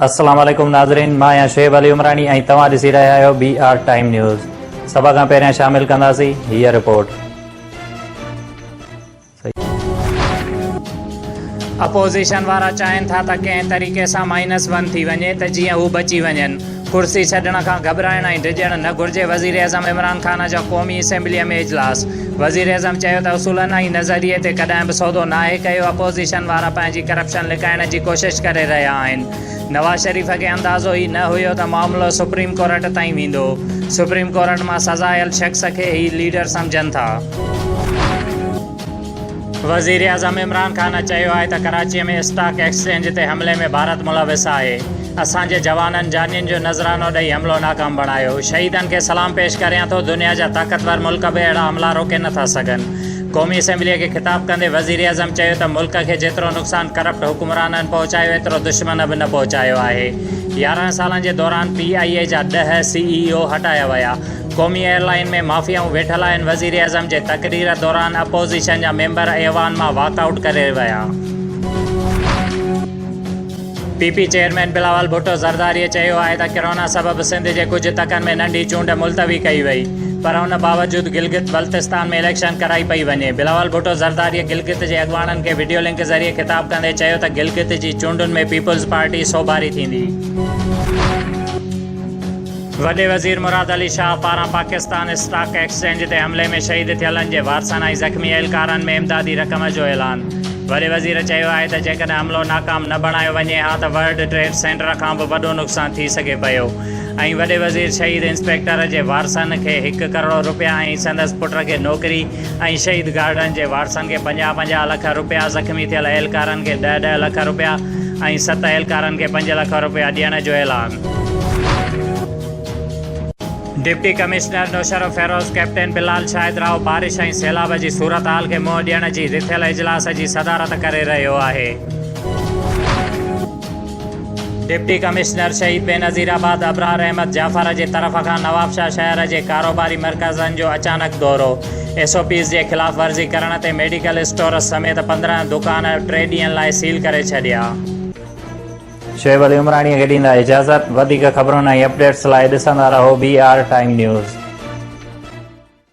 السلام عليڪم ناظرين مان آهيان شعيب علي عمراڻي ۽ توهان ڏسي رهيا آهيو بي آر ٽائيم نيوز سڀ کان پهريان شامل ڪنداسين هيء رپورٽ اپوزيشن وارا چاهين ٿا ته ڪنهن طريقي سان مائنس ون ٿي وڃي ته جيئن هو بچي وڃن. ڪرسي ڇڏڻ کان گهٻرائڻ ۽ ڊڄڻ نه گهرجي، وزيراعظم عمران خان جو قومي اسيمبليء ۾ اجلاس، وزيراعظم چيو ته اصولن ۽ نظريي تي ڪڏهن به سودو ناهي ڪيو، اپوزيشن وارا پنهنجي ڪرپشن لڪائڻ جي ڪوشش ڪري رهيا آهن، نواز شريف کي اندازو ئي نه هيو ته معاملو سپريم ڪورٽ تائين ويندو، سپريم ڪورٽ مان سزايل شخص کي هي ليڊر سمجهن ٿا. وزيراعظم عمران خان چيو آهي ته ڪراچي ۾ اسٽاڪ ايڪسچينج تي حملي ۾ ڀارت ملوث آهي، اسان جي جوانن جانين جو نذرانو ڏئي حملو ناڪام بڻايو، شهيدن کي سلام پيش ڪريان ٿو، دنيا جا طاقتور ملڪ به اهڙا حملا روڪي نه ٿا سگهن. قومي اسيمبليء کي خطاب ڪندي وزيراعظم چيو ته ملڪ کي جيترو نقصان ڪرپٽ حڪمرانن پهچايو ايترو دشمن به نه پهچايو آهي، يارهن سالن جي دوران پي آء اي جا ڏهه سي اي او هٽايا ويا، قومي ايئرلائين ۾ مافيائون ويٺل آهن، وزيراعظم جي تقرير دوران اپوزيشن جا ميمبر ايوان مان واڪ آئوٽ ڪري ويا. P P chairman Bilawal Bhutto زرداريء چيو آهي ته ڪرونا سبب سنڌ جي ڪجهه تڪن ۾ ننڍي چونڊ ملتوي ڪئي وئي پر ان باوجود گلگت بلتستان ۾ اليڪشن ڪرائي پئي وڃي. بلاول ڀٽو زرداريء گلگت جي اڳواڻن کي وڊيو لنڪ ذريعي خطاب ڪندي چيو ته گلگت جي چونڊن ۾ پيپلز پارٽي سوڀاري ٿيندي. وڏي وزير مراد علي شاهه پاران پاڪستان اسٽاڪ ايڪسچينج تي حملي ۾ شهيد ٿيلن جي وارثن ۽ زخمي اهلڪارن ۾ امدادي رقم جو اعلان وڏي وزير چيو آهي ته جيڪڏهن حملو ناڪام نه بڻايو وڃي ها ته ورلڊ ٽريڊ سينٽر کان به وڏو نقصان ٿي سگهي پيو ۽ وڏي وزير شهيد انسپيڪٽر جي وارثن کي هڪ ڪروڙ رپيا ۽ سندس پٽ کي نوڪري ۽ شهيد گارڊن جي وارثن کي پنجاهه پنجاهه لک رپيا زخمي ٿيل اهلڪارن کي ڏهه ڏهه لک رپيا ۽ ست اهلڪارن کي پنج لک رپيا ڏيڻ جو اعلان deputy commissioner Naushahro Feroze captain Bilal Shahid Rao بارش ۽ سيلاب جي صورتحال کي منهن ڏيڻ جي رٿيل اجلاس جي صدارت ڪري رهيو آهي. ڊپٽي ڪمشنر شھيد بينظير آباد ابرار احمد جعفر جي طرف کان نوابشاھ شهر جي ڪاروباري مرڪزن جو اچانڪ دورو، ايس او پيز جي خلاف ورزي ڪرڻ تي ميڊيڪل اسٽورز سميت پندرهن دڪان ٽي ڏينهن لاء سيل ڪري ڇڏيا. شعيب علي عمراڻيء کي ڏيندا اجازت. وڌيڪ خبرن ۽ اپڊيٽس لاء ڏسندا رهو بي آر ٽائيم نيوز.